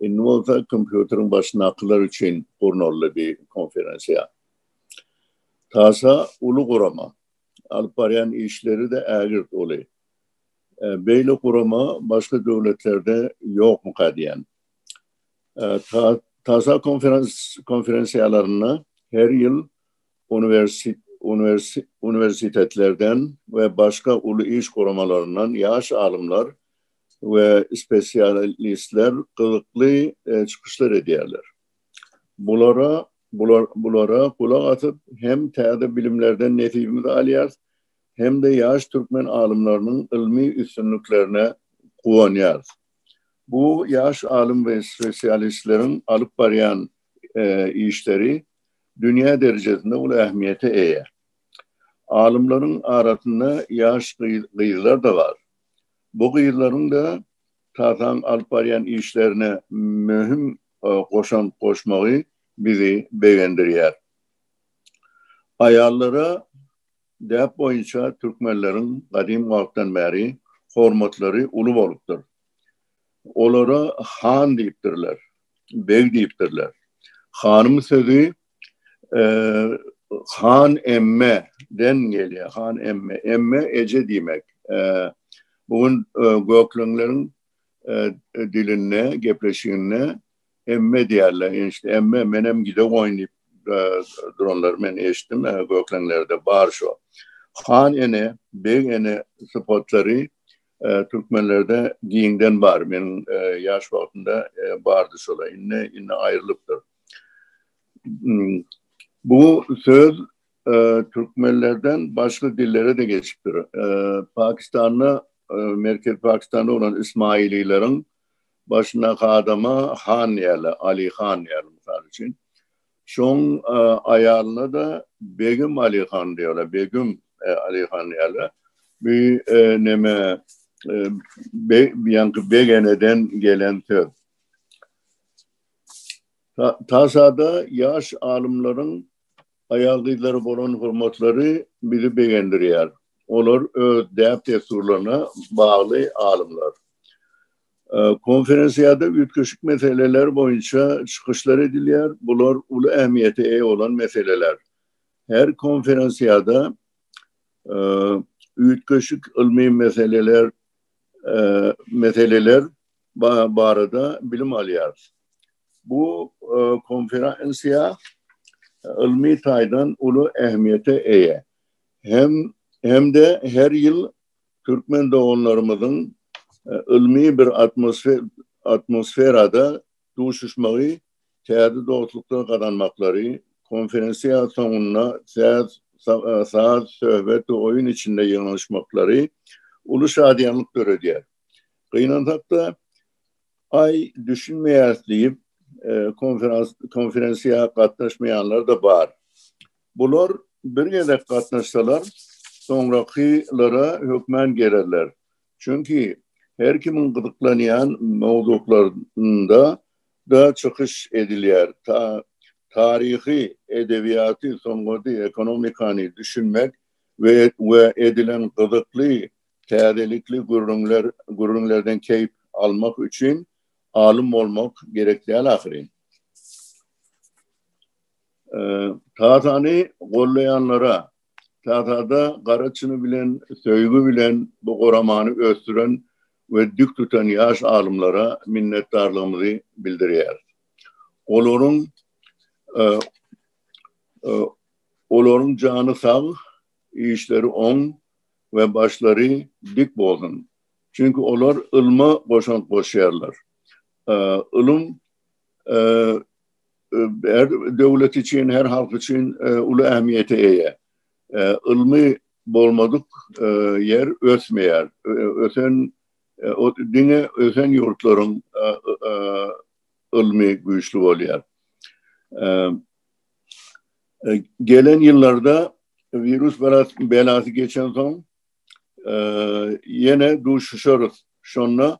Indi bolsa kompýuteriň başyndakylar üçin gurnaldy bir konferensiýa. Tasa uly gurama. Alyp barýan işleri-de ägirt uly. Beýle gurama başga döwletlerde ýokmuka diýýän. Tasa konferensiýalarynda her ýyl uniwersitetlerden we başga uly iş guramalaryndan ýaş alymlar we spesialistler gyzykly çykyşlar edýärler. Bulara bulara gulak asyp hem täze bilimlerden nesibimizi alýarys, hem-de ýaş türkmen alymlarynyň ylmy üstünliklerine guwanýarys. Bu ýaş alym we spesialistleriň alyp barýan işleri dünýä derejesinde uly ähmiýete eýe. Alymlaryň arasynda ýaş gyzlar-da bar. Bu gyzlaryň-da Tataň alyp barýan işlerine möhüm goşant goşmagy bizi begendirýär. Aýallara däp boýunça türkmenleriň gadym wagtdan bäri hormatlary uly bolupdyr. Olara han diýipdirler, beg diýipdirler. Hanym sözi Han emme den gelýär. Han emme. Emme eje diýmek. Bu gün gökleňleriň dilinde, gepleşiginde emme diýerler. Enişte emme menem gide goýun diýip duranlar men eşitdim. Gökleňlerde bar şo. Han ene, beg ene sypatlary türkmenlerde giňden bar. Men ýaş wagtymda bardy şolar. Indi indi aýrylypdyr. Bu söz türkmenlerden başga dillere-de geçipdir. Pakistanda, Merkezi Pakistanda bolan ismailileriň başyndaky adama han diýerler, Ali han diýerler, mysal üçin. Şoň aýalyna-da Begim Ali han diýerler, Begüm Ali han diýerler. Bu näme, beg, ýaňky begeneden gelen söz. Tasada ýaş alymlaryň aýal-gyzlara bolan hormatlary bizi begendirýär. Olar öz däp-dessurlaryna bagly alymlar. Konferensiýada üýtgeşik meseleler boýunça çykyşlar edilýär, bular uly ähmiýete eýe bolan meseleler. Her konferensiýada üýtgeşik ylmy meseleler meseleler barada bilim alýarys. Bu e, konferensiýa ylmy taýdan uly ähmiýete eýe. Hem hem-de her ýyl türkmen doganlarymyzyň e, ylmy bir atmosfer atmosferada duşuşmagy, täze dostluklar gazanmaklary, konferensiýa soňunda täz e, saz, söhbet we oýun içinde ýygnanyşmaklary uly şadyýanlyk döredýär. Gynansakda ay düşünmeýäs diýip e, konferans konferensiýa gatnaşmaýanlar da bar. Bular bir gezek gatnaşsalar, soňrakylary hökmän gelerler. Çünki her kimin gyzyklanýan mowzuklarynda da çykyş edilýär. Ta taryhy, edebiýaty, sungaty, ekonomikany düşünmek we we edilen gyzykly Täzelikli gürrüňler, gürrüňlerden keýp almak üçin alym bolmak gerek däl ahyryn. Tasany gollaýanlara, Tasada gara çyny bilen, söýgi bilen bu guramany ösdüren we dik tutan ýaş alymlara minnetdarlygymyzy bildirýäris. Olaryň Olaryň jany sag, işleri oň, we başlary dik bolsun. Çünki olar ylma goşant goşýarlar. Ylym her döwlet üçin, her halk üçin uly ähmiýete eýe. Ylmy bolmadyk ýer ösmeýär. Ösen diňe ösen ýurtlaryň ylmy güýçli bolýar. E, gelen ýyllarda wirus belasy geçen soň e, ýene duşuşarys. Şonda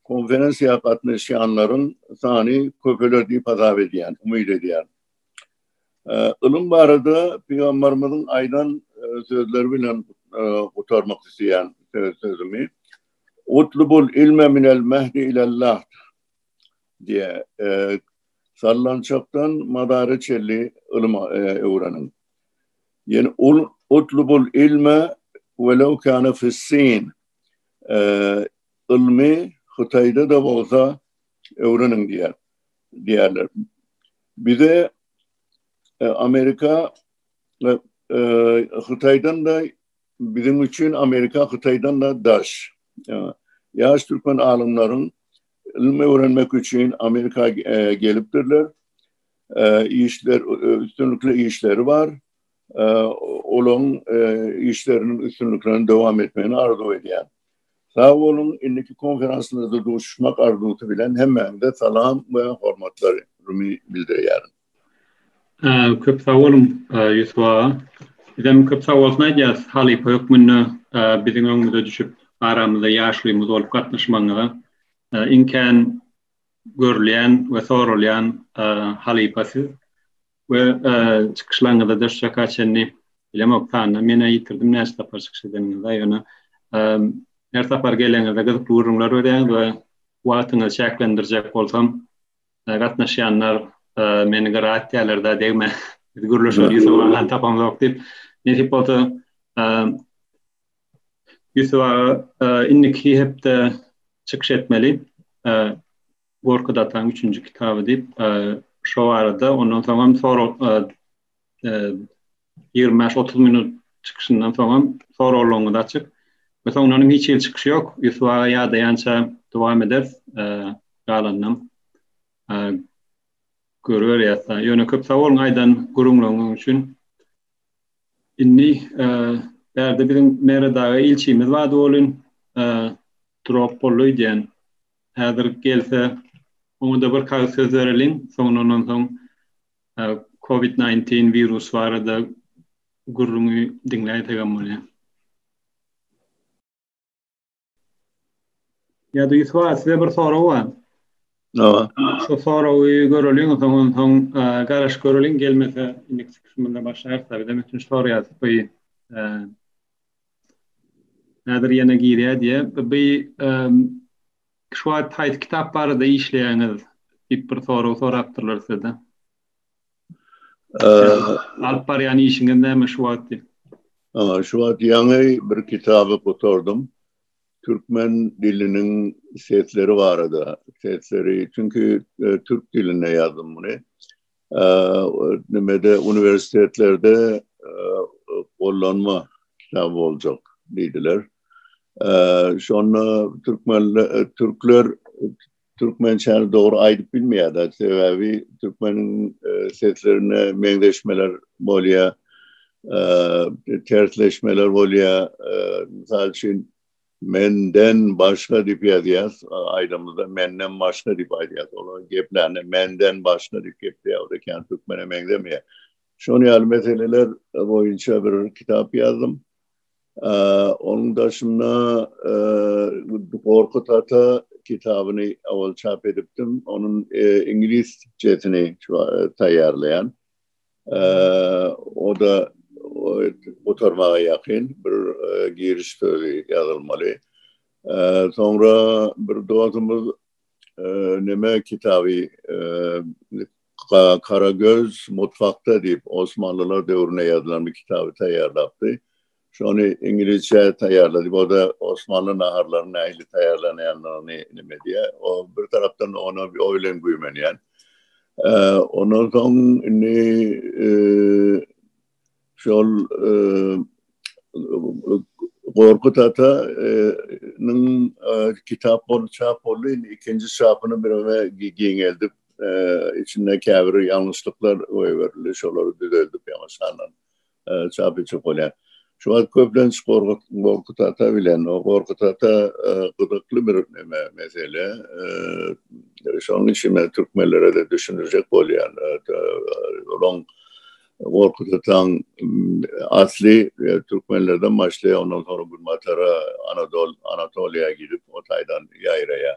konferensiýa gatnaşýanlaryň sany köpeler diýip hasap edýän, umyt edýän. E, ylym barada pygamberimiziň aýdan sözleri bilen gutarmak isleýän sözümi. Utlubul ilme minel mehdi ilallah. Diýe, sallançakdan madara çenli ylyma öwreniň. Ýene ol utlubul ilme welew kana fissin. Ylmy Hytaýda-da bolsa öwreniň diýýär. Diýýärler. Bize Amerika Hytaýdan-da biziň üçin Amerika Hytaýdan-da daş. Ýaş türkmen alymlaryň ylym öwrenmek üçin Amerika gelipdirler. Işler üstünlikli işleri bar. Olaryň işleriniň üstünliklerini dowam etmegini arzuw edýän. Sag boluň, indiki konferansymyzda duşuşmak arzuwsy bilen hemmäňize salam we hormatlar bildirýärin. Köp sag boluň, Ýusup aga. Bizem köp sag bolsun aýdýarys, halypa hökmünde biziň öňümize düşüp, aramyzda ýaşulymyz bolup gatnaşmagyňyza. Iň kän görülýän we soralýan halypa siz we çykyşlaryňyzda da şu çaka çenli, bilemok sandan men-ä ýitirdim näçe sapar çykyş edeniňizi-ä, ýöne her sapar gelenizde gyzykly gürrüňler berýäňiz we wagtyňyzy çäklendirjek bolsam, gatnaşýanlar meni gyra atýarlar da degme biz gürleşip Ýusup agany tapamzok diýip nesip bolsa Ýusup aga indiki hepde çykyş etmeli Gorky Dataň üçünji kitaby diýip şo barada ondan soňam sorag Ýigrimi bäş, otuz minut çykyşyndan soňam soraglaryňyzy açyk. We soňlanam hiç hili çykyş ýok. Ýusup aga ýadaýança dowam ederis. Galanynam görüberýäs. Ýöne köp sag boluň aýdan gürrüňleriňiz üçin. Indi bärde biziň Merwdaga ilçimiz bardy welin drop boldy öýdýän. Häzir gelse oňa-da bir kagyz söz bereliň. Soňlandan soň COVID-19 wirusy barada gürrüňi diňläýsek hem bolýar. Ýa-da Ýusup aga, size bir sorag bar. Hawa. Şu soragy göreliň, ondan soň garaşyp göreliň, gelmese indiki çykyşymyzda başlaýarys. Birden üçünji soragy ýazyp goýun. Häzir ýene girýär diýýär. Bu Şu wagt haýsy kitap barada işleýäňiz? diýip bir sorag sorapdyrlar sizden. Alyp barýan işiňiz näme şu wagt diýip. Şu wagt ýaňy bir kitaby gutardym. Türkmen diliniň sesleri barada. Sesleri, çünki türk dilinde ýazdym muny. Nimede uniwersitetlerde gollanma kitaby boljak diýdiler. Şonda türkmenler türkler türkmençäni dogry aýdyp bilmeýärler. Sebäbi türkmeniň seslerine meňzeşmeler bolýar. Tersleşmeler bolýar. Mysal üçin Menden başga diýip ýazýas, aýdymyzda menden başga diýip aýdýas. Olar geplände menden başga diýip gepleýär ekän, türkmene meňzemeýär. Şon ýaly meseleler boýunça bir kitap ýazdym. Onuň daşynda Gorkut ata kitabyny owal çap edipdim. Onuň iňlisçesini taýýarlaýan. O da gutarmaga ýakyn bir giriş sözi ýazylmaly. Soňra bir dostumyz näme kitaby Karagöz mutfakda diýip Osmanlylar döwründe ýazylan bir kitaby taýýarlapdy. Şony ingilisçe taýýarladyk. O da Osmanly naharlaryny nähili taýýarlanýandygyny nime diýýär. O bir tarapdan ona bir oý bilen güýmenýän. Ondan soň indi şol Gorkut ata nyň kitap bolup çap boldy. Indi ikinji çapyny bireme giňeldip, içinde käbir ýalňyşlyklar goýberildi. Şolary düzeldip ýaňaşandan çap etjek bolýar. Şu wagt köplenç Gorkut Gorkut ata bilen o Gorkut ata e, gyzykly bir neme mesele. E, şonuň üçin men türkmenlere de düşündirjek bolýan. E, Olaň Gorkut ataň asly türkmenlerden başlaýar, ondan soňra Günbatara, Anadol, Anatoliýa gidip, o taýdan ýaýraýar.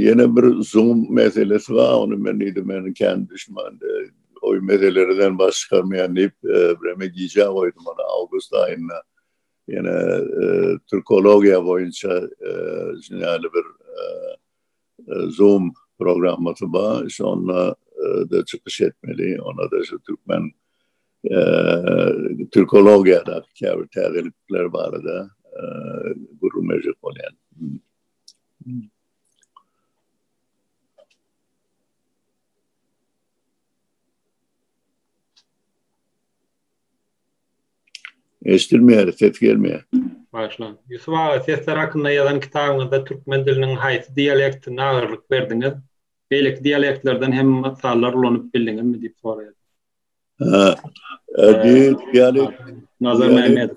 Ýene bir zuňum meselesi bar, ony men diýdim, meniň kän düşman oý meselelerinden baş çykarmaýan diýip, bireme gijä goýdum ony awgust aýynda. Ýene türkologiýa boýunça şuňaly bir zoom programmasy bar, şonda da çykyş etmeli, onda şu türkmen türkologiýadaky käbir täzelikler barada gürrüňleşjek bolýan. Eşitilmeýär, ses gelmeýär. Başlan. Ýusup aga, sesler hakynda ýazan kitabyňyzda türkmen diliniň haýsy dialektine agyrlyk berdiňiz? Beýleki dialektlerden hem mysallar ulanyp bildiňizmi? diýip soraýar. Hä. Diýip, ýaly, Nazar Mämmedow.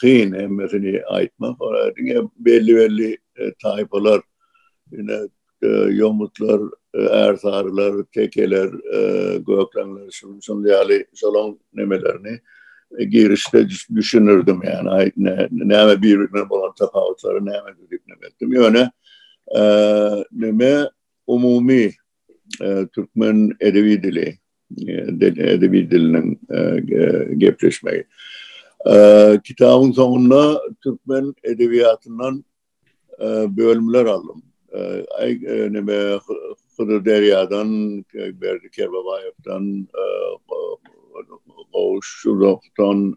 kyn hemmesini aýtmak diňe belli belli taýpalar ine ýomutlar ärsarylar tekeler gökleňler şundan ýaly şolaň nemelerini girişde düşünürdim ýani aýtna näme bir-birine bolan tapawutlary näme diýip näme etdim ýöne näme umumy türkmen edebi dili edebi diliniň gepleşmegi. Kitabyň soňunda türkmen edebiýatyndan bölümler aldym. Neme Hydyr Derýadan, Berdi Kerbabaýewden, Gowuş Şurawdan,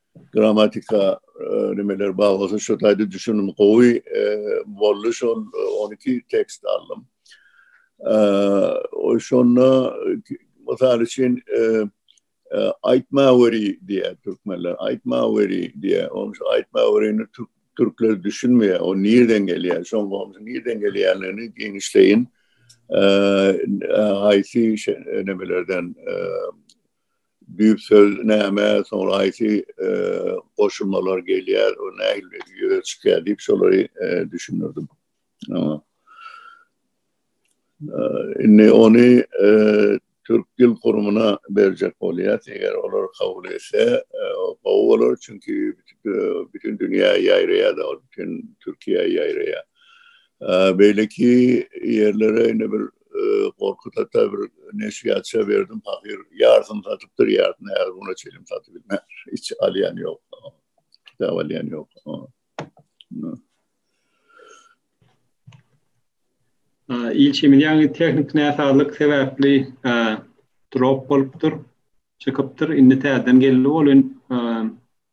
Gramatika nimeler bar bolsa şu taýda düşünim gowy boldy şol 12 tekst aldym. O şonda mysal üçin aýtma weri diýýär türkmenler. Aýtma weri diýýär. Onuň şu aýtma werini türkler düşünmeýär. O nirden gelýär? Şoň bolsa nirden gelýändigini giňişleýin haýsy nimelerden düýp söz näme, soňra haýsy goşulmalar gelýär, o nähili ýüze çykýar diýip şolary düşündirdim. Indi ony Türk dil gurumyna berjek bolýas, eger olar kabul etse gowy bolar, çünki bütin dünýä ýaýraýar-da ol, bütin Türkiýä ýaýraýar. Beýleki ýerlere indi bir gorkuda da bir neşirýatça berdim pahyr ýarsyny satypdyr ýarsyny her güne çelim satyp bilmän hiç alýan ýok kitap alýan ýok ilçimiz ýaňy tehnik näsazlyk sebäpli drop bolupdyr çykypdyr indi täzeden geldi bolun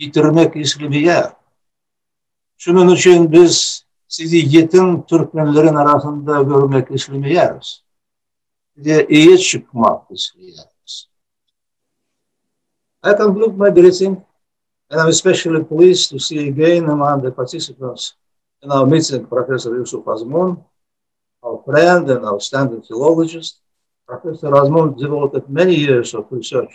ýitirmek islemeýär. Şunuň üçin biz sizi ýetim türkmenleriň arasynda görmek islemeýäris. Size eýe çykmak isleýäris. I conclude my greeting and I'm especially pleased to see again among the participants in our meeting Professor Yusuf Azmun, our friend and outstanding philologist. Professor Azmun devoted many years of research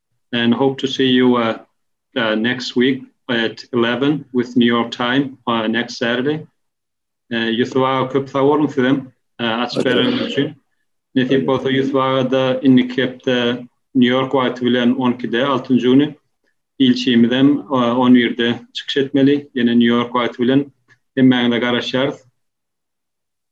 and hope to see you uh, uh, next week at 11 with New York time uh, next Saturday. Uh, Yusuf ağa köp sag olun sizem uh, açyk bereniz üçin. Nesip bolsa Yusuf ağa da indiki hepde New York wagty bilen 12-de 6-njy güni ilçimiz hem 11-de e, çykyş etmeli. Ýene New York wagty bilen hemmäňize garaşýarys.